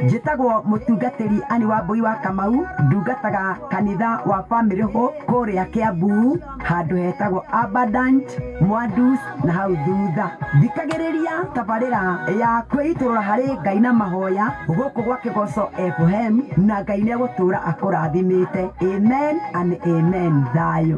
Njĩtagwo mũtungatĩri Ann Wambũi wa Kamau, ndungataga kanitha wa Family Hope kũrĩa Kĩambu handũ hetagwo Abundant Mwandus na hau thutha. Thikagĩrĩria tabarĩra ya kwĩitũrũra harĩ Ngai na mahoya gũkũ gwa Kĩgoco FM na Ngai nĩegũtũra akũrathimĩte. Amen and amen. Thayũ.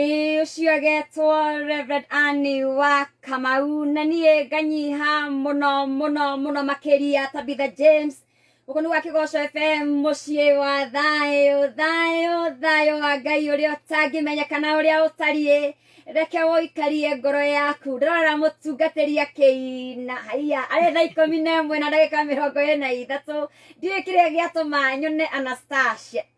Ĩ ũcio agetwo Reverend Annie wa Kamau na niĩ nganyiha mũno mũno mũno makĩria Tabitha James gũkũ nĩ gwa Kĩgoco FM mũciĩ wa thayũ thayũ thayũ wa Ngai ũrĩa ũtangĩmenyekana ũrĩa ũtariĩ reke ũikarie ngoro yaku ndĩrorera mũtungatĩri akĩina haiya arĩ thaa ikũmi na ĩmwe na ndagĩka mĩrongo ĩrĩ na ithatũ ndiũĩ kĩrĩa gĩatũma nyone Anastasia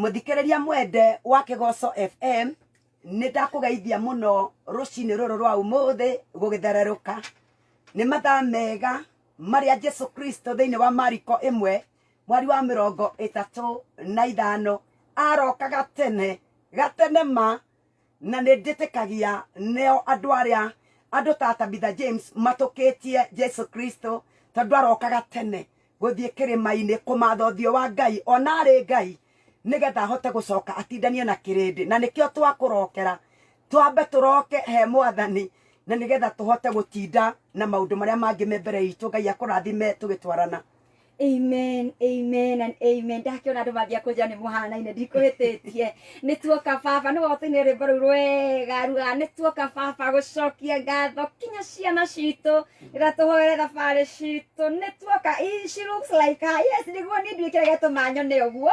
mũthikĩrĩria mwende wa kĩgoco fm nĩ ndakũgeithia mũno rũcinĩ rũrũ rwa ũmũthĩ gũgĩthererũka nĩ mathaa mega marĩa jesu kristo thĩinĩ wa mariko ĩmwe mwari wa mĩrongo ĩtatũ na ithano aroka gatene gatene ma na nĩ ndĩtĩkagia neo andũ arĩa andũ ta Tabitha James matũkĩtie Jesu Kristo tondũ arokaga tene gũthiĩ kĩrĩma-inĩ kũmatha ũthiũ wa Ngai ona arĩ Ngai nĩgetha ahote gũcoka atindanie na kĩrĩndĩ na nĩkĩo twakũrokera twambe tũroke he mwathani na nĩgetha tũhote gũtinda na maũndũ marĩa mangĩ me mbere itũ Ngai akũrathime tũgĩtwarana amen amen and amen ndakiona andu mambia kunjira ni muhanaine ndikuhititie ni tuoka baba ni wotuine rwimbo ruu rwega ruga ni tuoka baba gucokia ngatho kinya ciana citu rira tuhoere thabari citu ni tuoka Ii, she looks like her yes niguo ni nduikire getuma nyone uguo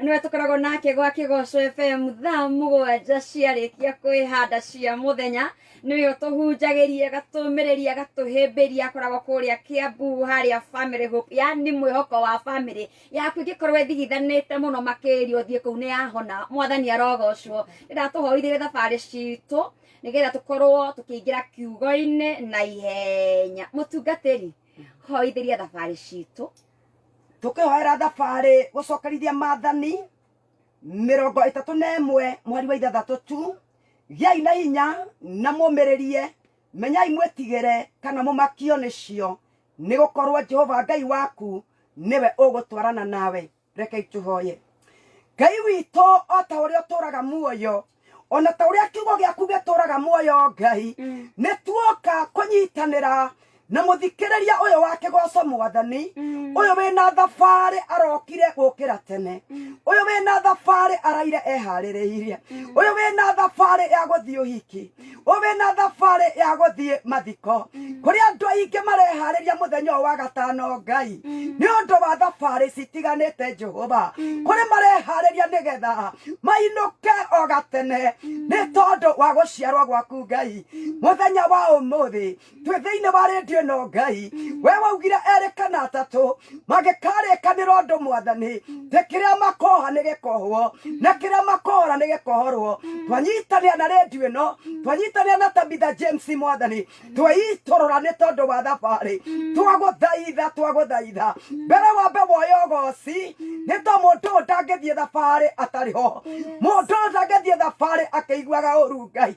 nĩwe tũkoragwo nake gwa kĩgoco fm thaa mũgwanja ciarĩkia kwĩhanda cia mũthenya nĩwe ũtũhunjagĩria agatũmĩrĩria agatũhĩmbĩria akoragwo kũrĩa kĩambu harĩa family hope yani mwĩhoko wa family yaku ĩngĩkorwo ĩthigithanĩte mũno makĩria ũthiĩ kũu nĩ yahona mwathani arogocwo ndĩratũhoithĩria thabarĩ citũ nĩgetha tũkorwo tũkĩingĩra kiugo-inĩ na ihenya mũtungatĩri hoithĩria thabarĩ citũ tũkĩhoera thabarĩ gũcokerithia maathani mĩrongo ĩtatũ na ĩmwe mweri wa ithathatũ tu gĩai na hinya na mũmĩrĩrie menyai mwĩtigĩre kana mũmakio nĩcio nĩ gũkorwo jehova ngai waku nĩwe ũgũtwarana nawe rekei tũhoye ngai witũ o ta ũrĩa ũtũraga muoyo o na ta ũrĩa kiugo gĩaku gĩtũraga muoyo ngai mm. nĩ tuoka kũnyitanĩra na mũthikĩrĩria ũyũ wa kĩgoco mwathani mm. ũyũ wĩna thabarĩ arokire gũkĩra tene mm. ũyũ wĩna thabarĩ araire eharĩrĩirie mm. ũyũ wĩna thabarĩ ya gũthiĩ ũhiki ũrĩ na thabarĩ ya gũthiĩ mathiko kũrĩa andũ aingĩ mareharĩria mũthenya ũyũ wa gatano ngai nĩ ũndũ wa thabarĩ citiganĩte jehova kũrĩ mareharĩria nĩgetha mainũke o gatene nĩ tondũ wa gũciarwo gwaku ngai mũthenya wa ũmũthĩ twĩ thĩinĩ wa rĩndio ĩno ngai we waugire erĩ kana atatũ mangĩkarĩkanĩra ũndũ mwathani tĩ kĩrĩa makoha nĩ gĩkohwo na kĩrĩa makohora nĩ gĩkohorwo twanyitanĩra na rĩndio ĩno twanyitanĩra na tabitha james mwathani tweitũrũra nĩ tondũ wa thabarĩ twagũthaitha twagũthaitha mbere wa mbe woyo goci nĩ to mũndũ ũyũ ndangĩthiĩ thabarĩ atarĩ ho mũndũ ũyũ ndangĩthiĩ thabarĩ akĩiguaga ũru ngai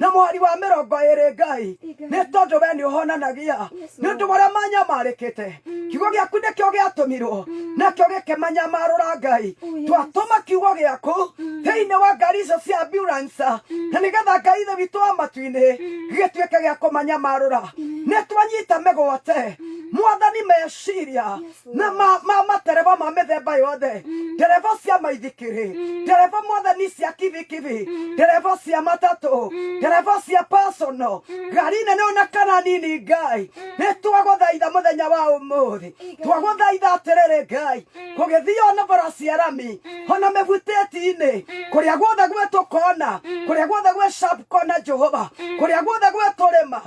na mweri wa mĩrongo ĩrĩ ngai nĩ tondũ we nĩ ũhonanagia nĩ ũndũ marĩa manyamarĩkĩte kiugo gĩaku nĩkĩo gĩatũmirwo nakĩo gĩkĩmanyamarũra ngai twatũma kiugo gĩaku thĩinĩ wa ngari icio cia ambulance na nĩgetha ngai thĩ witũ wa matu-inĩ gĩgĩtuĩke gĩa kũmanyamarũra nĩ twanyita mĩgwate mwathani meciria na ma- ma- matereba ma mĩthemba yothe ndereba cia maithikiri ndereba mwathani cia kibikibi ndereba cia matatũ ndereba cia pasono ngari nene ona kana nini ngai nĩ twagũthaitha mũthenya wa ũmũthĩ twagũthaitha atĩrĩrĩ ngai gũgĩthiĩ ona bara cia rami ona mĩgutĩti-inĩ kũrĩa guothe gwetũkona kũrĩa guothe gwĩ sharp kona jehova kũrĩa guothe gwetũrĩma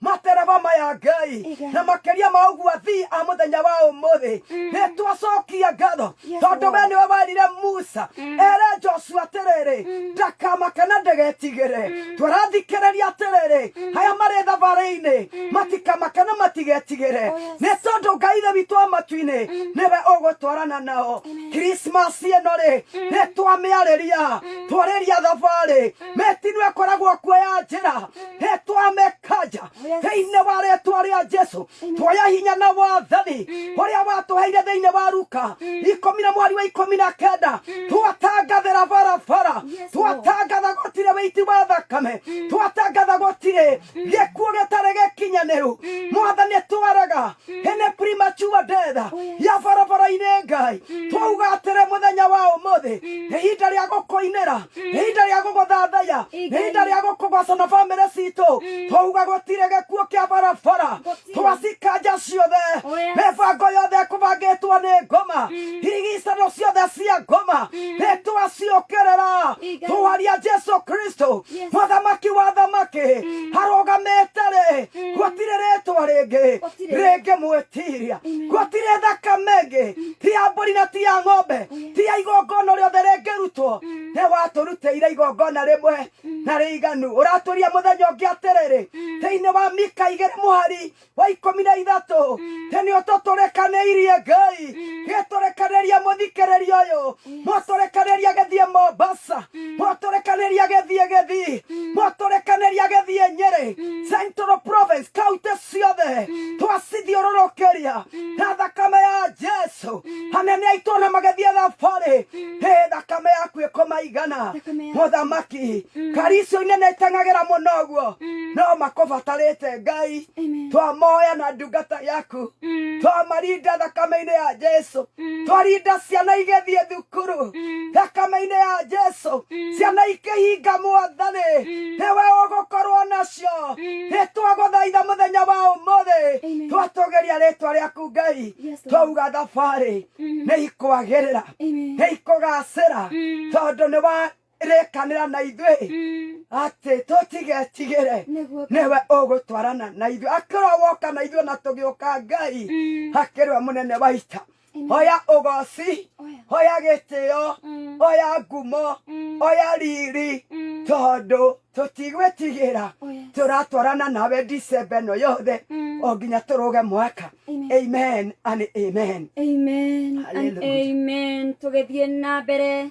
matereba maya ngai Iga. na makiria ma uguo athii a muthenya wa umuthi ni twacokia ngatho Yes, tondu we Lord. niwe werire musa ere joshua atiriri ndakamake na ndagetigire twarathikiriria atiriri aya mari thabari-ini matikamake na matigetigire Oh, yes. ni tondu ngai ithe witũ wa matu-inĩ niwe ũgũtwarana nao krismas ĩno rĩ nĩ twamĩarĩria twarĩria thabarĩ mĩtino ĩkoragwo kuo ya njĩra hetwa mekanja thĩinĩ wa rĩtwa rĩa jesu tuoya hinya na wathani ũrĩa watũheire thĩinĩ wa ruka ikũmi na mweri wa ikũmi na kenda twatangathĩra barabara twatangatha gũtirĩ wĩiti wa thakame twatangatha gũtirĩ gĩkuũ gĩtarĩ gĩkinyanĩru mwathani twaraga hene premature death ya barabara-inĩ ngai twauga atĩrĩ mũthenya wa ũmũthĩ nĩ ihinda rĩa gũkũinĩra nĩ ihinda rĩa gũgũthathaya nĩ ihinda rĩa gũkũgoca na bamĩrĩ citũ twauga gũtirĩ gĩkuũ kĩa barabara twacikanja ciothe mĩbango yothe ĩkũbangĩtwo nĩ ngoma irigicano ciothe cia ngoma nĩ twaciũkĩrĩra twaria jesu kristo mũthamaki wa thamaki arũgamĩte rĩ gũtirĩ rĩtwa rĩngĩ rĩngĩ mwĩtiria gũtirĩ thakame ĩngĩ ti ya mbũri na ti ya ng'ombe ti ya igongona rĩothe rĩngĩrutwo nĩ watũrutĩire igongona rĩmwe na rĩiganu ũratũria mũthenya ũngĩ atĩrĩrĩ thĩinĩ wa mika igĩrĩ mũhari wa ikũmi na ithatũ tĩ nĩ ũtũtũrĩkanĩirie ngai gĩtũrĩkanĩria mũthikĩrĩria ũyũ mwatũrekanĩria gĩthiĩ mombasa mwatũrekanĩria gĩthiĩ gĩthii mwatũrekanĩria gĩthiĩ nyĩrĩ central province kaunti ciothe twacithiũrũrũkĩria na thakame ya jesu anene aitũ na magĩthiĩ thabarĩ hĩ thakame yaku ĩkũmaigana Thakame yaku. mũthamaki karicio inene iteng'agĩra mũno ũguo no makũbatarĩte ngai Amen. twamoya na ndungata yaku twamarinda thakame-inĩ ya jesu mm. twarinda ciana igĩthiĩ thukuru mm. thakame-inĩ ya jesu mm. ciana ikĩhinga mwathani mm. nĩwe ũgũkorwo nacio mm. nĩ twagũthaitha mũthenya wa ũmũthĩ twatũgeria rĩtwa rĩaku ngai twauga thabarĩ mm. nĩ ikwagĩrĩra nĩ ikũgacĩra mm. tondũ nĩ wa rekanira na ithuĩ Mm. atĩ tũtigetigĩre Nĩguo. nĩwe ũgũtwarana na ithuĩ akĩrwa woka na ithuĩ na tũgĩũka ngai Mm. akĩrwa mũnene wa ita Amen. hoya ũgoci Oya. hoya gĩtĩo Mm. hoya ngumo Mm. hoya riri Mm. tondũ tũtigwĩtigĩra Oya. tũratwarana nawe dicemba ĩno yothe Mm. o nginya tũrũge mwaka Amen. amen and amen Amen and Hallelujah. amen. Tũgĩthiĩ na mbere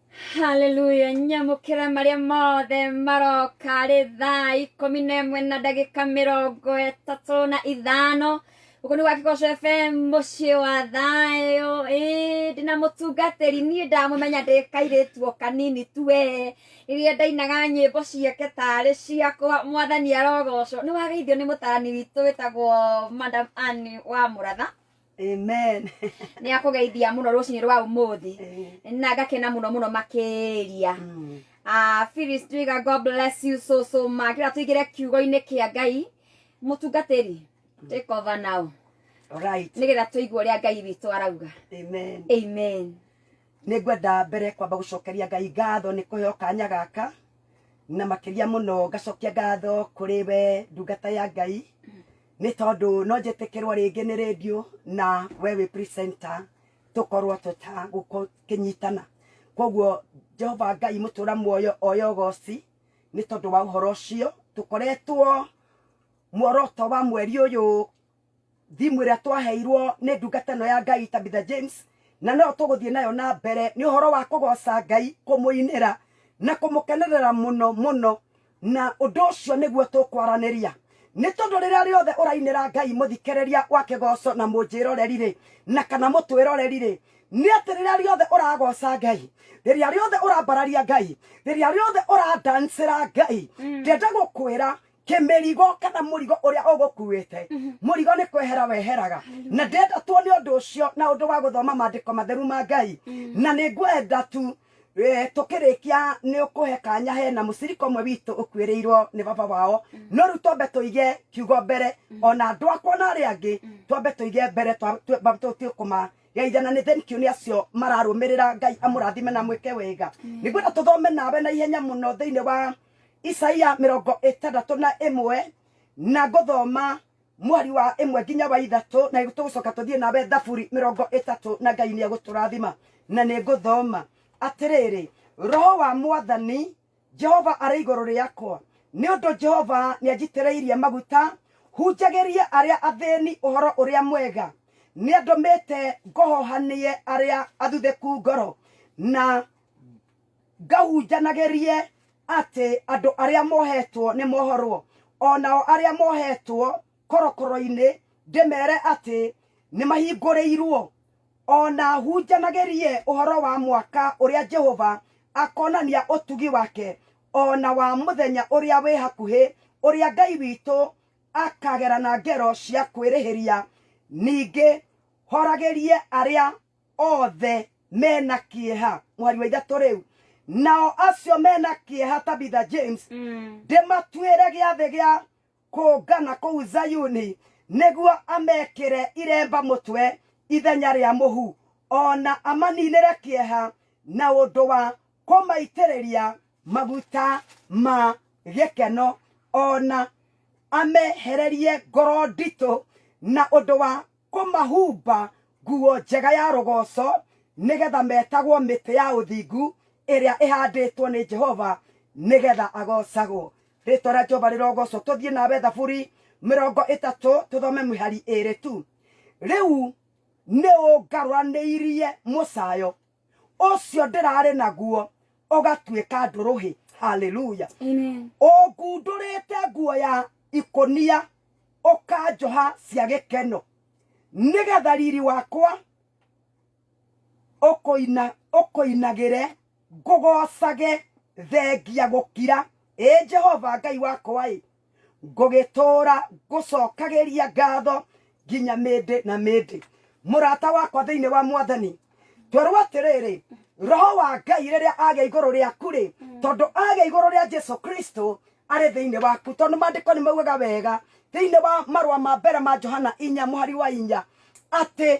haleluya nyamũkĩra marĩa mothe maroka rĩ thaa ikũmi na ĩmwe na ndagĩka mĩrongo ĩtatũ na ithano gũkũ nĩ gwakĩgoco fm mũciĩ wa thayũ ĩ ndĩ na mũtungatĩri niĩ ndamũmenya ndĩ kairĩtuo kanini tu we rĩrĩa ndainaga nyĩmbo ciake tarĩ ciakwa mwathani arogocwo nĩ wageithio nĩ mũtarani witũ wĩtagwo madam Ann wa mũratha amen nä akå geithia må no rå cinä rwa å må thä Eh, na ngakena må no må no makä ria mm. Ah, Phyllis Twiga, God bless you so so much. Kira tuigire kiugo-inĩ kĩa Ngai mũtungatĩri take over now All right nĩgetha tũigue ũrĩa Ngai witũ arauga. amen Amen. nä ngwenda mbere kwamba gå cokeria ngai ngatho nä kå heo kanya gaka na makä ria må no ngacokia ngatho kå rä we ndungata ya ngai nĩ tondũ no njĩtĩkĩrwo rĩngĩ nĩ rĩndiũ na we wĩ presenter tũkorwo tũtagũkĩnyitana koguo jehova ngai mũtũra muoyo oyo goci nĩ tondũ wa ũhoro ũcio tũkoretwo muoroto wa mweri ũyũ thimũ ĩrĩa twaheirwo nĩ ndungata ĩno ya ngai tabitha james na no tũgũthiĩ nayo na mbere nĩ ũhoro wa kũgoca ngai kũmũinĩra na kũmũkenerera mũno mũno na ũndũ ũcio nĩguo tũkwaranĩria nĩ tondũ rĩrĩa rĩothe ũrainĩra ngai mũthikĩrĩria wa kĩgoco na mũnjĩroreri rĩ na kana mũtwĩroreri rĩ nĩ atĩ rĩrĩa rĩothe ũragoca ngai rĩrĩa rĩothe ũrambararia ngai rĩrĩa rĩothe ũrandancĩra ngai ndenda gũkwĩra kĩmĩrigo kana mũrigo ũrĩa ũgũkuĩte mũrigo nĩ kwehera weheraga na ndenda tuone ũndũ ũcio na ũndũ wa gũthoma maandĩko matheru ma ngai na nĩ ngwenda tu Eh, tukirikia ni ukuhe kanya hena mucirika umwe witu ukuirirwo ni baba wao no riu twambe tuige kiugo mbere ona andu akwa na aria angi twambe tuige mbere twa- twa- ba- tu- tu- kuma geithana ni thank you ni acio mararumirira ngai amurathime na mwike wega nigwenda tuthome nawe na ihenya muno thiini wa isaia mirongo itandatå na imwe na ngåthoma mweri wa ĩmwe nginya wa ithatũ na tũgũcoka tũthiĩ nawe thaburi mĩrongo ĩtatũ na ngai nĩ egũtũrathima na nĩ ngũthoma atĩrĩrĩ roho wa mwathani jehova arĩ igũrũ rĩakwa nĩ ũndũ jehova nĩ anjitĩrĩirie maguta hunjagĩrie arĩa athĩni ũhoro ũrĩa mwega nĩ andũmĩte ngohohanie arĩa athuthĩku ngoro na ngahunjanagĩrie atĩ andũ arĩa mohetwo nĩ mohorwo o nao arĩa mohetwo korokoro-inĩ ndĩmere atĩ nĩ mahingũrĩirwo o na hunjanagĩrie ũhoro wa mwaka ũrĩa jehova akonania ũtugi wake o na wa mũthenya ũrĩa wĩ hakuhĩ ũrĩa ngai witũ akagerana ngero cia kwĩrĩhĩria ningĩ horagĩrie arĩa othe mena kĩeha mũhari wa ithatũ rĩu nao acio mena kĩeha tabitha james Mm. ndĩmatuĩre gĩathĩ gĩa kũngana kũu zayuni nĩguo amekĩre iremba mũtwe ithenya rĩa mũhu ona amaninĩre kĩeha na ũndũ wa kũmaitĩrĩria maguta ma gĩkeno ona amehererie ngoro nditũ na ũndũ wa kũmahumba nguo njega ya rogoco, nĩ getha metagwo mĩtĩ ya ũthingu ĩrĩa ĩhandĩtwo nĩ Jehova nĩ getha agocagwo. Rĩtwa rĩa Jehova rĩrogocwo. Tũthiĩ nawe Thaburi mĩrongo ĩtatũ tũthome mĩhari ĩrĩ tu. Rĩu nĩ ũngarũranĩirie mũcayo. ũcio ndĩrarĩ naguo ũgatuĩka ndũrũhĩ haleluya Amen. ũngundũrĩte nguo ya ikũnia ũkanjoha cia gĩkeno nĩgetha riri wakwa ũkũina ũkũinagĩre ngũgocage thengia gũkira ĩ jehova ngai wakwa ĩ ngũgĩtũũra ngũcokagĩria ngatho nginya mĩndĩ na mĩndĩ mũrata wakwa thĩinĩ wa mwathani twerwo atĩrĩrĩ roho wa ngai rĩrĩa agĩa igũrũ rĩaku rĩ tondũ agĩa igũrũ rĩa jesu kristo arĩ thĩinĩ waku tondũ maandĩko nĩ maugaga wega thĩinĩ wa marũa ma mbere ma johana inya mũhari wa inya atĩ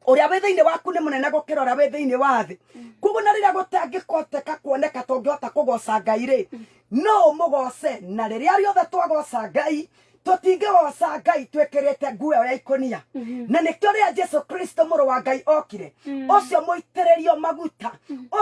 uria wi thiini waku ni munene gukira uria wi thiini wa thi koguo na riria gutangikoteka kuoneka tungihota kugoca ngai ri no umugoce na riria riothe twagoca ngai tutingigoca ngai twikirite nguo ĩyo ya ikonia na nikio riria jesu kristo muru wa ngai okire ucio muitiririo maguta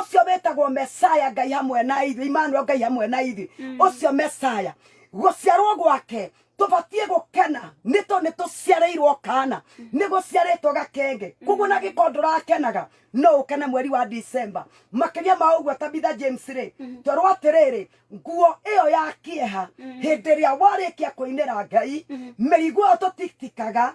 ucio witagwo mesaya ngai hamwe na ithuĩ imanuel ngai hamwe na ithuĩ ucio mesaya guciarwo gwake tubatiĩ gukena nĩ tondũ nĩ tũciarĩirwo kana nĩ gũciarĩtwo gakenge koguo na gĩkorwo ndũrakenaga no ũkene mweri wa December makĩria ma ũguo Tabitha James rĩ twerwo atĩrĩrĩ nguo ĩyo ya kĩeha hĩndĩ ĩrĩa warĩkia kũinĩra Ngai mĩrigo ĩyo tũtitikaga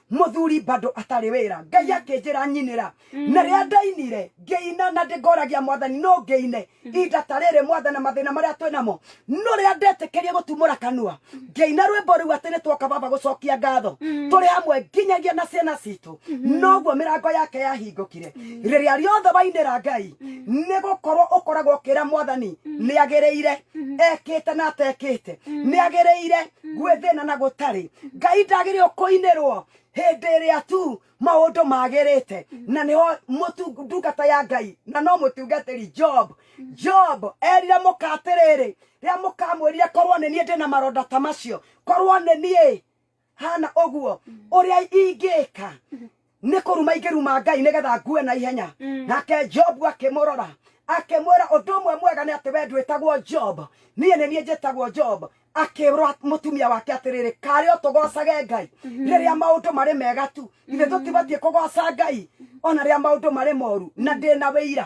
mũthuri bado atarĩ wĩra ngai mm. akĩnjĩra nyinĩra mm. na rĩa ndainire ngĩina na ndĩngoragia mwathani no ngĩine mm. inda ta rĩrĩ mwathana mathĩna marĩa twĩ namo no rĩa ndetĩkĩrie gũtumũra kanua mm. ngĩina rwĩmbo rĩu atĩ nĩ twoka baba gũcokia ngatho mm. tũrĩ hamwe nginyagia na ciana citũ mm-hmm. noguo mĩrango yake yahingũkire mm. rĩrĩa rĩothe wainĩra ngai nĩ gũkorwo ũkoragwo ũkĩra mwathani nĩ agĩrĩire mm-hmm. ekĩte na atekĩte nĩ agĩrĩire gwĩ thĩna na gũtarĩ ngai ndagĩrĩirwo kũinĩrwo hĩndĩ ĩrĩa tu maũndũ magĩrĩte na nĩho mũtu- ndungata ya ngai na no mũtungatĩri job job erire mũka atĩrĩrĩ rĩrĩa mũkamwĩrire korwo nĩ niĩ ndĩ na maronda ta macio korwo nĩ niĩ hana ũguo ũrĩa ingĩka Nĩ kũruma ingĩruma Ngai nĩgetha ngue na ihenya. Mm. Nake Jobu akĩmũrora akĩmwĩra ũndũ ũmwe mwega nĩ atĩ we ndwĩtagwo Job, niĩ nĩ niĩ njĩtagwo Job. Akĩrwa mũtumia wake atĩrĩrĩ, karĩ o tũgocage Ngai mhm. rĩrĩa maũndũ marĩ mega tu, ithe mhm. tũtibatiĩ kũgoca Ngai ona rĩrĩa maũndũ marĩ moru na mhm. ndĩ na wĩira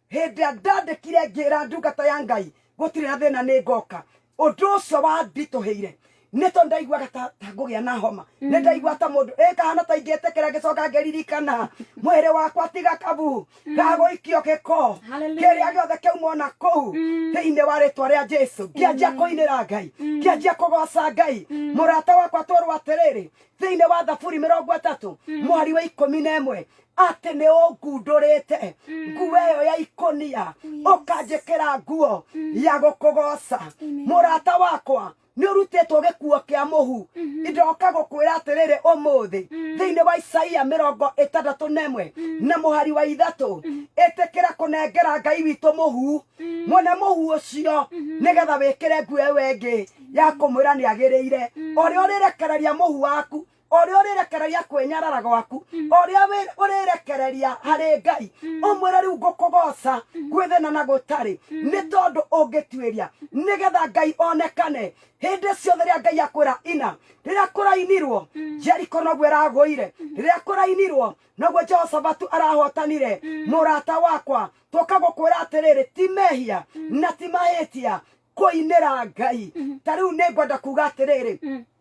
Hĩndĩ ĩrĩa ndandĩkire ngĩra ndungata ya Ngai gũtirĩ na thĩna nĩ ngoka, ũndũ ũcio wanditũhĩire nĩ tondũ ndaiguaga ta ta ngũgĩa na homa nĩ ndaiguaga ta mũndũ ĩ kahana ta ingĩtĩkĩra ngĩcoka ngĩririkana mwĩrĩ wakwa tiga kabu gagũikio gĩko Hallelujah. kĩrĩa gĩothe kĩauma o na kũu thĩinĩ wa rĩtwa rĩa jesu ngĩanjia kũinĩra ngai ngĩanjia kũgoca ngai mũrata wakwa twerwo atĩrĩrĩ thĩinĩ wa thaburi mĩrongo ĩtatũ mwari wa ikũmi na ĩmwe atĩ nĩ ũngundũrĩte nguo ĩyo ya ikũnia ũkanjĩkĩra nguo ya gũkũgoca mũrata wakwa nĩ ũrutĩtwo gĩkuo kĩa mũhu ndoka gũkwĩra atĩrĩrĩ ũmũthĩ thĩinĩ wa isaia mĩrongo ĩtandatũ na ĩmwe na mũhari wa ithatũ ĩtĩkĩra kũnengera ngai witũ mũhu mwone mũhu ũcio nĩgetha wĩkĩre nguo ĩyo ĩngĩ ya kũmwĩra nĩ agĩrĩire ũrĩa ũrĩrekereria mũhu waku ũrĩa ũrĩrekereria kwĩnyarara gwaku ũrĩa wĩ- ũrĩrekereria harĩ ngai ũmwĩre rĩu ngũkũgoca gwĩthĩna na gũtarĩ nĩ tondũ ũngĩtuĩria nĩgetha ngai onekane hĩndĩ ciothe rĩa ngai akwĩra ina rĩrĩa kũrainirwo jeriko noguo ĩragũire rĩrĩa kũrainirwo noguo jehoshafatu arahotanire mũrata wakwa tũka gũkwĩra atĩrĩrĩ ti mehia na ti mahĩtia kũinĩra ngai ta rĩu nĩ ngwenda kuga atĩrĩrĩ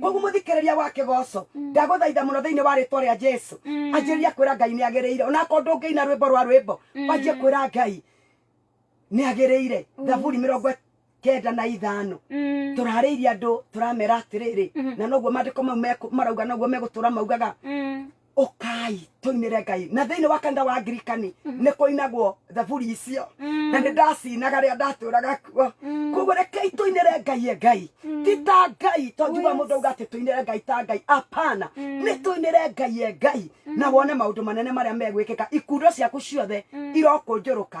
koguo mũthikĩrĩria wa kĩgoco ndagũthaitha mũno thĩinĩ wa rĩtwa rĩa jesu anjĩrĩria kwĩra ngai nĩ agĩrĩire onakorwo ndũngĩina rwĩmbo rwa rwĩmbo wanjie kwĩra ngai nĩ agĩrĩire thaburi mĩrongo kenda na ithano tũrarĩirie andũ tũramera atĩrĩrĩ na noguo maandĩko mau meku- marauga noguo megũtũra maugaga ũkai tũinĩre ngai na thĩinĩ wa kanitha wa ngirikani nĩ kũinagwo thaburi icio na nĩ ndacinaga rĩa ndatũraga kuo koguo rekei tũinĩre ngai e ngai ti ta ngai to njuga mũndũ auga atĩ tũinĩre ngai ta ngai apana nĩ tũinĩre ngai e ngai na wone maũndũ manene marĩa megwĩkĩka ikundo ciaku ciothe irokũnjũrũka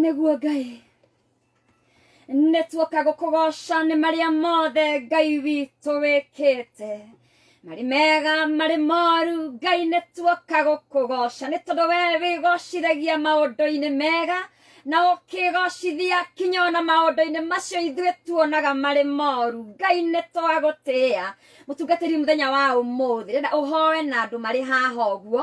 nĩguo ngai nĩtuoka gũkũgoca nĩ marĩa mothe ngai witũ wĩkĩte marĩ mega marĩ moru ngai nĩ tuoka gũkũgoca nĩ tondũ we wĩgocithagia maũndũ-inĩ mega na ũkĩgocithia kinya ona maũndũ-inĩ macio ithuĩ tuonaga marĩ moru ngai nĩ twagũtĩa mũtungatĩri mũthenya wa ũmũthĩ renda ũhoe na andũ marĩ haha ũguo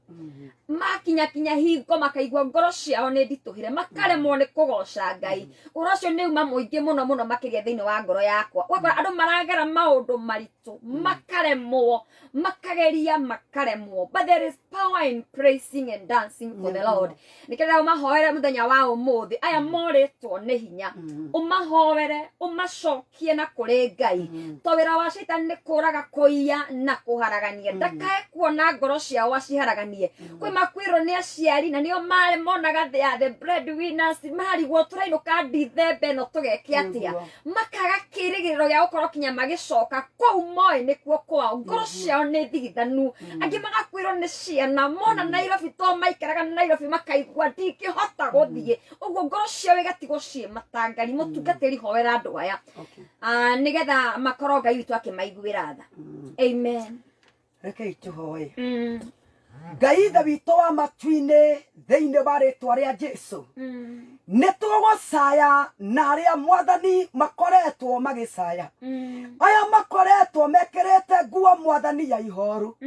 makinya kinya hingo makaigua ngoro ciao nĩ nditũhĩre makaremwo nĩ kũgoca ngai ũhoro ũcio nĩ uma mũingĩ mũno mũno makĩria thĩinĩ wa ngoro yakwa ũgakora andũ maragera maũndũ maritũ makaremwo makageria makaremwo but there is power in praising and dancing for the Yes, lord Lord. nĩkĩrĩra ũmahoere mũthenya wa ũmũthĩ aya morĩtwo nĩ hinya ũmahoere ũmacokie na kũrĩ ngai to wĩra wa shaitani nĩ kũraga kũiya na kũharagania ndakae kuona ngoro ciao aciharaganie kwĩ makwĩrwo nĩ aciari na nĩo marĩ monaga they are the bread winners marigwo tũrainũka ndithembe ĩno tũgeke atĩa Nĩguo. makaga kĩrĩgĩrĩro gĩa gũkorwo kinya magĩcoka kũu moĩ nĩkuo kwao ngoro ciao nĩ ndigithanu angĩ magakwĩrwo nĩ ciana mona nairobi to maikaraga nairobi makaigua ndingĩhota gũthiĩ ũguo ngoro ciao igatigwo ciĩ matangari mũtungatĩri hoera andũ aya Okay. Ah, nĩgetha makorwo ngai witũ akĩmaiguĩra tha amen rekei tũhoe ngai ithe witũ wa matu-inĩ thĩinĩ wa rĩtwa rĩa jesu nĩ tũgũcaya na arĩa mwathani makoretwo magĩcaya aya makoretwo mekĩrĩte nguo mwathani ya ihoru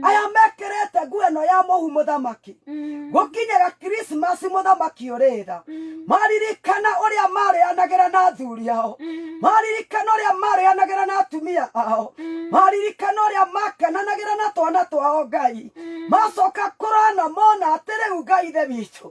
aya mekĩrĩte nguo ĩno ya mũhu mũthamaki gũkinyĩra krismasi mũthamaki ũrĩ tha maririkana ũrĩa marĩanagĩra na athuri ao maririkana ũrĩa marĩanagĩra na atumia ao maririkana ũrĩa makenanagĩra na twana twao ngai macoka kũrona mona atĩ rĩu ngai ithe witũ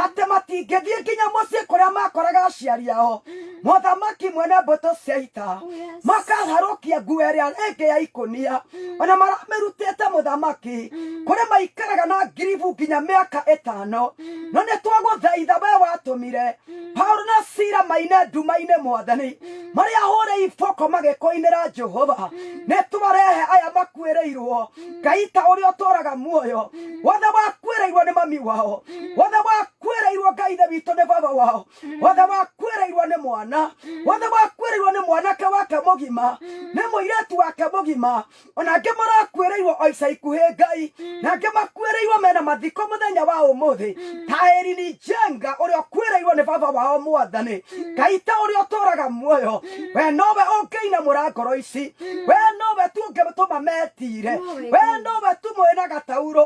atĩ matingĩthiĩ nginya mũciĩ kũrĩa makoraga aciari ao mothamaki mwene mbũtũ cia ita makaharũkia nguo ĩrĩa ĩngĩ ya ikũnia ona maramĩrutĩte mũthamaki kũrĩ maikaraga na ngiribu nginya mĩaka ĩtano no nĩ twagũthaitha we watũmire paulo na sira maine nduma-inĩ mwathani marĩa hũrĩ iboko magĩkũinĩra jehova nĩ twarehe aya makuĩrĩirwo ngai ta ũrĩa ũtũraga muoyo wothe wakuĩrĩirwo nĩ mami wao wothe wakuĩrĩirwo ngai ithe witũ nĩ baba wao wothe wakuĩrĩirwo nĩ mwana wothe wakuĩrĩirwo nĩ mwanake wake mũgima nĩ mũirĩtu wake mũgima ona angĩ marakuĩrĩirwo o ica ikuhĩ ngai na angĩ makuĩrĩirwo mena mathiko mũthenya wa ũmũthĩ ta erini njenga ũrĩa ũkuĩrĩirwo nĩ baba wao mwathani ngai ta ũrĩa ũtũraga muoyo we nowe ũngĩinamũra ngoro ici we nowe tu ũngĩtũma metire we nowe tu mwĩna gataurũ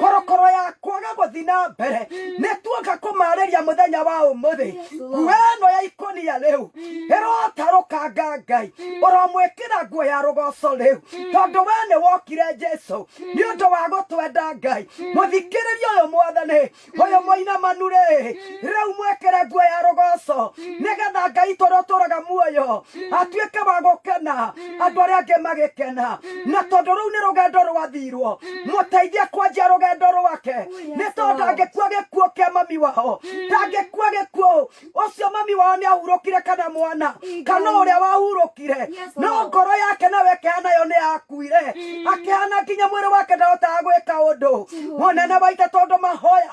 korokoro ya kwaga gũthi na mbere nĩ tuoka kũmarĩria mũthenya wa ũmũthĩ nguo ĩno ya ikũnia rĩu ĩrotarũkanga ngai ũromwĩkĩra nguo ya rũgoco rĩu tondũ we nĩ wokire jesu nĩ ũndũ wa gũtwenda ngai mũthikĩrĩria ũyũ mwathani ũyũ mũinamanu rĩ rĩu mwĩkĩre nguo ya rũgoco nĩgetha ngai tũrĩa ũtũraga muoyo atuĩke wa gũkena andũ arĩa angĩ magĩkena na tondũ rũu nĩ rũgendo rwathirwo mũteithie kwanjia rũgendo rwake nĩ tondũ ndangĩkua gĩkuo kĩa mami wao ndangĩkua gĩkuo ũcio mami wao nĩ ahurũkire kana mwana kana ũrĩa wahurũkire no ngoro yake nayo ĩkĩhana yo nĩ yakuire akĩhana nginya mwĩrĩ wake ndahotaga gwĩka ũndũ mũnene waithe tondũ mahoya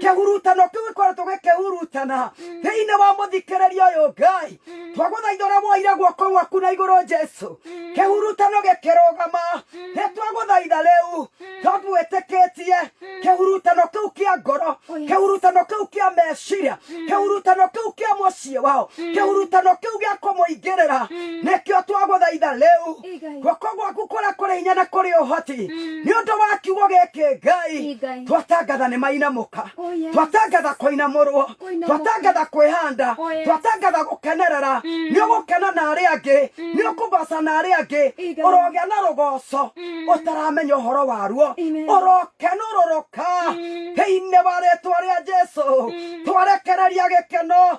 kĩhurutano kĩu gĩkoretwo gĩkĩhurutana thĩinĩ wa mũthikĩrĩria ũyũ ngai twagũthaitha ũrĩa woire guoko gwaku na igũrũ jesu kĩhurutano gĩkĩrũgama nĩ twagũthaitha rĩu tũgwĩtĩkĩtie kĩhurutano kĩu kĩa ngoro kĩhurutano kĩu kĩa meciria kĩhurutano kĩu kĩa mũciĩ wao kĩhurutano kĩu gĩa kũmũingĩrĩra nĩkĩo twagũthaitha rĩu Ĩ Ngai. guoko gwaku kũrĩa kũrĩ hinya na kũrĩ ũhoti nĩ ũndũ wa kiugo gĩkĩ Ĩ ngai Ngai. twatangatha nĩ mainamũka Oh, yes. twatangatha kũinamũrwo Kũinamũka. twatangatha kwĩhanda Oh, yes. twatangatha gũkenerera nĩ ũgũkena na arĩa angĩ nĩ ũkũgoca na arĩa angĩ Ĩ Ngai. ũrogĩa na rũgoco ũtaramenya ũhoro waruo Amen. ũrokenũrũrũka thĩinĩ wa rĩtwa rĩa jesu twarekereria gĩkeno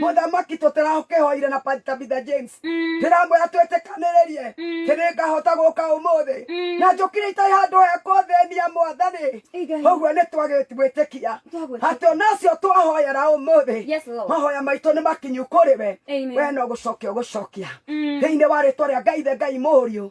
mũthamaki tũtĩrakĩhoire na Pa- tabitha james ndĩramwĩra twĩtĩkanĩrĩrie kĩrĩ ngahota gũka ũmũthĩ na njũkire itarĩ handũ hekwo thĩnia mwathani Igai. ũguo nĩ twagĩtwĩtĩkia Twagwĩtĩkia. atĩ ona acio twahoyera ũmũthĩ Yes, Lord. mahoya maitũ nĩ makinyu kũrĩ we Amen. we no gũcokia ũgũcokia thĩinĩ wa rĩtwa rĩa ngai the ngai mũriũ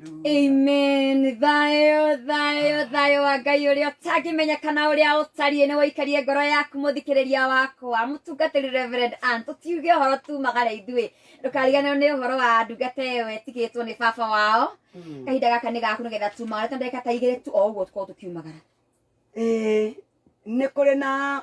Amen. Thayo, thayo, thayo wa Ngai ũrĩa ũtangĩmenyekana ũrĩa ũtariĩ nĩ waikarie ngoro yaku mũthikĩrĩria wakwa mũtungatĩri Reverend Ann tũtiuge ũhoro tumagara ithuĩ ndũkariganĩrwo nĩ ũhoro wa ndungata ĩyo ĩtigĩtwo nĩ baba wao kahinda gaka nĩ gaku nĩgetha tumagara tondũ ndagĩka ta igĩrĩ tu o ũguo tũkorwo tũkiumagara Ĩĩ, nĩ kũrĩ na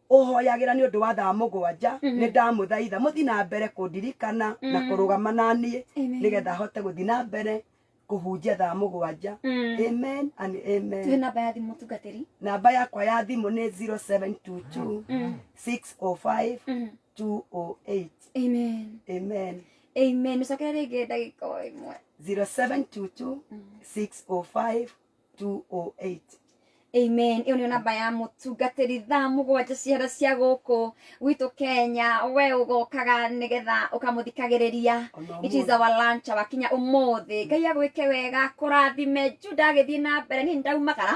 ũhoyagĩra nĩ ũndũ wa thaa mũgwanja nĩ ndamũthaitha mũthi na mbere kũndirikana na kũrũgama na niĩ Amen. nĩgetha hote gũthi na mbere kũhunjia thaa mũgwanja Mm. amen and tuhe amen namba ya thimũ mũtungatĩri namba yakwa ya thimũ nĩ 0722 Mm. 605 Mhm. 208 amen amen amen ũcokere rĩngĩ ndagĩka o ĩmwe 0722 605 208 amen ĩyo nĩyo namba ya mũtungatĩri thaa mũgwanja ciara cia gũkũ gwitũ kenya we ũgokaga nĩgetha ũkamũthikagĩrĩria Ona it is our lunch wakinya ũmũthĩ ngai agwĩke wega kũrathime ju ndagĩthiĩ na mbere niĩ ndaumagara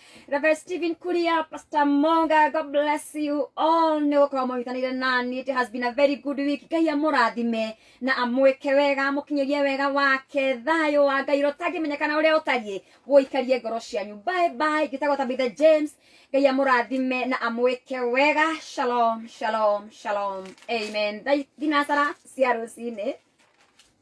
Reverend Stephen Kulia, Pastor Monga, God bless you all. Nĩ gũkorwo mũnyitanĩire nani. It has been a very good week. Ngai amũrathime na amwĩke wega, amũkinyĩrie wega wake. Thayũ wa Ngai ũrĩa ũtangĩmenyekana ũrĩa ũtariĩ ũikarie ngoro cianyu. Bye bye. Ngĩtagwo Tabitha James. Ngai amũrathime na amwĩke wega. Shalom, shalom, shalom. Amen. Thaa- Thinasara cia rũcinĩ.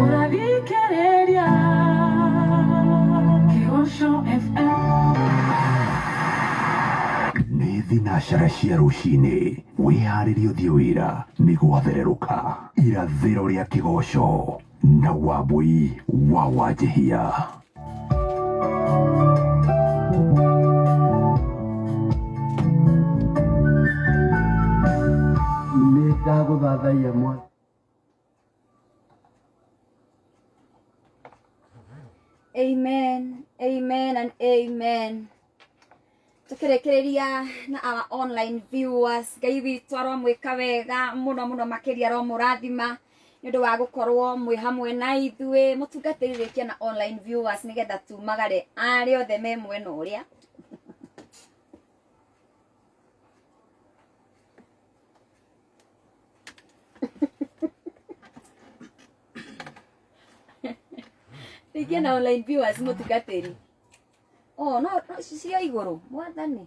Ũrathikĩrĩria Kĩgoco FM. Nĩ thinacara cia rũcinĩ, wĩharĩrie ũthiĩ wĩra nĩ gwathererũka. Irathĩro rĩa Kĩgoco na Wambũi wa Wanjĩhia. Nĩndagũthathaiya mwathi. amen amen and amen tukirekereria na our online viewers ngai witũ aromwĩka wega mũno mũno makĩria aromũrathima nĩ ũndũ wa gũkorwo mwĩ hamwe na ithuĩ mũtungatĩrĩrĩkia na online viewers nĩgetha tumagare arĩa othe me mwena ũrĩa rĩngĩ na online viewers mũtungatĩri oh no no, cia igũrũ mwathani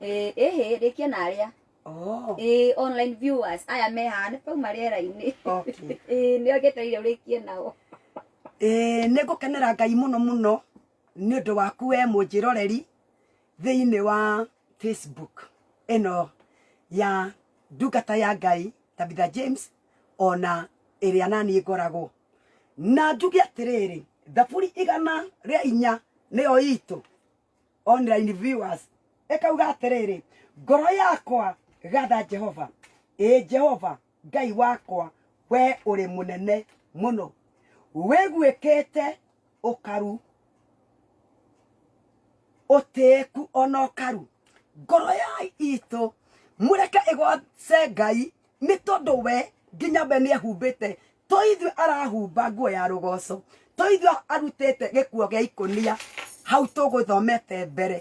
Eh, ehe rĩkia na arĩa Oh, Eh, online viewers aya me haha nĩ pauma rĩera-inĩ okay. Eh, nĩo ngetereire ũrĩkie nao Ĩĩ, nĩ ngũkenera ngai mũno mũno nĩ ũndũ waku we mũnjĩroreri thĩinĩ wa facebook ĩno ya ndungata ya ngai tabitha james ona ĩrĩa naniĩ ngoragwo na njuge atĩrĩrĩ thaburi igana rĩa inya nĩyo itũ online viewers ĩkauga atĩrĩrĩ ngoro yakwa gatha jehova ĩ jehova Ngai wakwa, wee ũrĩ mũnene mũno, wĩguĩkĩte ũkaru, ũtĩĩku o na ũkaru. Ngoro ya itũ mũreke ĩgooce Ngai, nĩ tondũ we nginya we nĩehumbĩte, to ithuĩ arahumba nguo ya rũgooco, to ithuĩ arutĩte gĩkuo gĩa ikũnia hau tũgũthomete mbere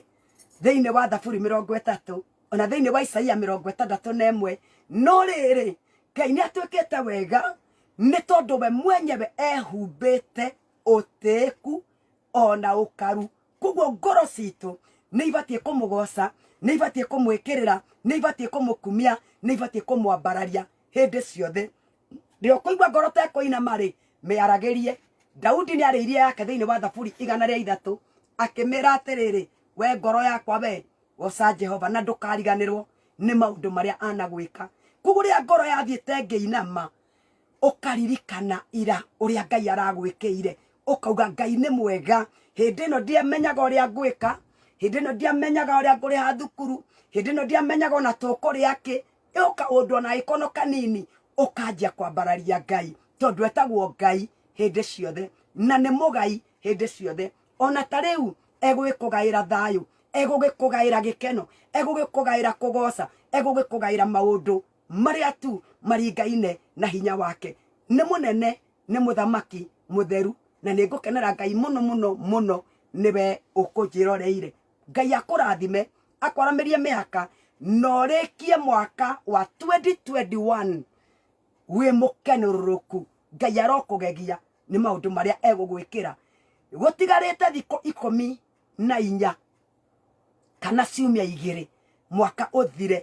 thĩinĩ wa Thaburi mĩrongo ĩtatũ. ona thĩinĩ wa isaia mĩrongo ĩtandatũ na ĩmwe no rĩrĩ ngai nĩ atuĩkĩte wega nĩ tondũ we mwenyewe ehumbĩte ũtĩĩku ona ũkaru koguo ngoro citũ nĩ ibatiĩ kũmũgoca nĩ ibatiĩ kũmwĩkĩrĩra nĩ ibatiĩ kũmũkumia nĩ ibatiĩ kũmwambararia hĩndĩ ciothe rĩo kũigua ngoro tekũinama rĩ mĩaragĩrie daudi nĩ arĩ iria yake thĩinĩ wa thaburi igana rĩa ithatũ akĩmĩra atĩrĩrĩ we ngoro yakwa we goca jehova na ndũkariganĩrwo nĩ maũndũ marĩa anagwĩka koguo rĩrĩa ngoro yathiĩte ngĩinama ũkaririkana ira ũrĩa ngai aragwĩkĩire ũkauga ngai nĩ mwega hĩndĩ ĩno ndiamenyaga ũrĩa ngwĩka hĩndĩ ĩno ndiamenyaga ũrĩa ngũrĩha thukuru hĩndĩ ĩno ndiamenyaga ona tũkũrĩa kĩ ĩyo kaũndũ ona ĩkono kanini ũkanjia kwambararia ngai tondũ etagwo ngai hĩndĩ ciothe na nĩ mũgai hĩndĩ ciothe ona ta rĩu egũgĩkũgaĩra thayũ egũgĩkũgaĩra gĩkeno egũgĩkũgaĩra kũgoca egũgĩkũgaĩra maũndũ marĩa tu maringaine na hinya wake nĩ mũnene nĩ mũthamaki mũtheru na nĩ ngũkenera ngai mũno mũno mũno nĩwe ũkũnjĩroreire ngai akũrathime akwaramĩrie mĩaka na ũrĩkie mwaka wa 2021 wĩ mũkenũrũrũku ngai arokũgegia nĩ maũndũ marĩa egũgwĩkĩra gũtigarĩte thikũ ikũmi na inya kana ciumia igĩrĩ mwaka ũthire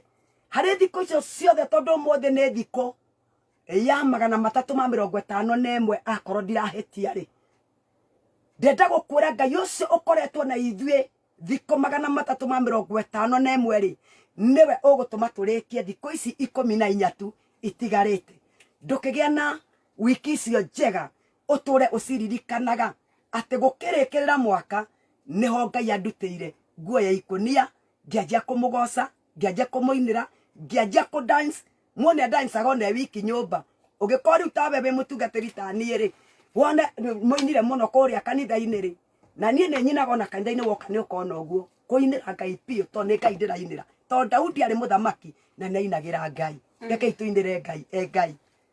harĩ thikũ icio ciothe tondũ ũmũthĩ nĩ thikũ ya magana matatũ ma mĩrongo ĩtano na ĩmwe akorwo ndirahĩtia rĩ ndenda gũkwĩra ngai ũcio ũkoretwo na ithuĩ thikũ magana matatũ ma mĩrongo ĩtano na ĩmwe rĩ nĩwe ũgũtũma tũrĩkie thikũ ici ikũmi na inya tu itigarĩte ndũkĩgĩa na wiki icio njega ũtũre ũciririkanaga atĩ gũkĩrĩkĩrĩra mwaka nĩho ngai andutĩire nguo ya ikũnia ngĩanjia kũmũgoca ngĩanjia kũmũinĩra ngĩanjia kũ dance mũndũ nĩ adancaga ona e wiki nyũmba ũngĩkorwo rĩu tawe wĩ mũtungatĩri ta niĩ rĩ wone rĩ- mũinire mũno kũrĩa kanitha-inĩ rĩ na niĩ nĩ nyinaga ona kanitha-inĩ woka nĩ ũkona ũguo kũinĩra ngai biũ tondũ nĩ ngai ndĩrainĩra tondũ daudi arĩ mũthamaki na nĩ ainagĩra ngai rekei tũinĩre ngai e ngai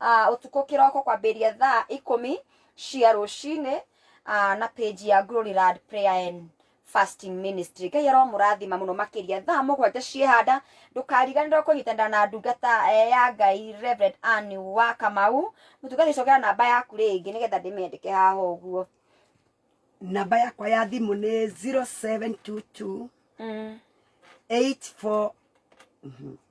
ah, ũtukũ kĩroko kwambĩrĩria thaa ikũmi cia rũcinĩ ah, na page ya Glory Land Prayer and Fasting Ministry ngai aromũrathima mũno makĩria thaa mũgwanja ciehanda ndũkariganĩrwo kũnyitanĩra na ndungata eh, ya ngai Reverend Ann wa Kamau mũtungati cokera namba yaku rĩngĩ nĩgetha ndĩmĩandĩke haha ũguo namba yakwa ya thimũ nĩ 0722 mm. 84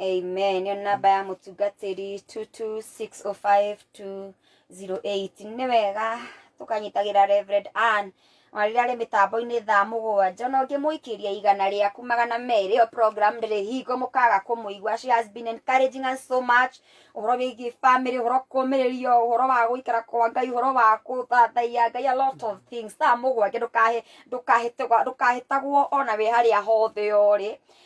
Amen. Nĩ namba ya mũtungatĩri 226052008. Nĩ wega tũkanyitagĩra Reverend Ann ona rĩrĩa arĩ mĩtambo-inĩ thaa mũgwanja ona ũngĩmũikĩria igana rĩaku magana merĩ ĩyo program ndĩrĩ hingo mũkaga kũmũigua she has been encouraging us so much ũhoro wĩgiĩ family ũhoro kũmĩrĩrio ũhoro wa gũikara kwa ngai ũhoro wa gũthathaiya ngai a lot of things thaa mũgwanja ndũkahe ndũkahĩtagwo ndũkahĩtagwo ona wĩ harĩa hothe ũrĩ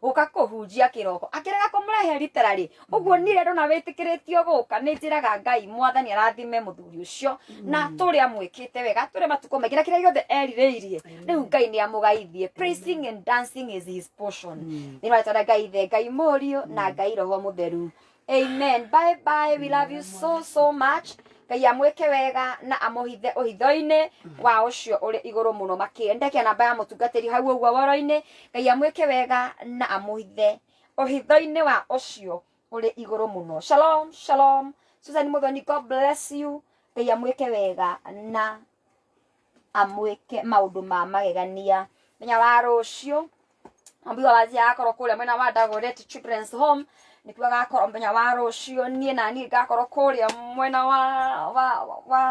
guka kuhunjia kiroko akirega kumrehe literally uguo ni rendo na witikiritio guka ni njiraga ngai mwathani arathime muthuri ucio na turi amwikite wega turi matuko maingi na kiria giothe eririirie riu ngai ni amugaithie praising and dancing is his portion ni rwatara ngai the ngai murio na ngai roho mutheru amen bye bye we love you so so much ngai amwĩke wega na amũhithe ũhitho-inĩ wa ũcio ũrĩ igũrũ mũno makĩria ndekia namba ya mũtungatĩri hau ũguo woro-inĩ ngai amwĩke wega na amũhithe ũhitho-inĩ wa ũcio ũrĩ igũrũ mũno shalom shalom susan mũthoni god bless you ngai amwĩke wega na amwĩke maũndũ ma magegania menya wa rũciũ ambiga wathi agakorwo kũrĩa mwena wa Dagoretti Children's Home nĩkuo agakorwo mũthenya wa rũciũ niĩ na niĩ ngakorwo kũrĩa mwena wa wa wa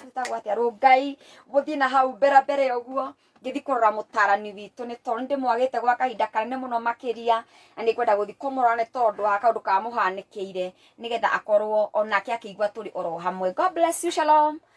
wĩtagwo atĩa Rũngai gũthiĩ na hau mbere mbere ũguo ngĩthi kũrora mũtarani witũ nĩ tondũ nĩ ndĩmwagĩte gwa kahinda kanene mũno makĩria na nĩ ngwenda gũthi kũmũrora nĩ tondũ wa kaũndũ kamũhanĩkĩire nĩgetha akorwo onake akĩigua tũrĩ oro hamwe God bless you shalom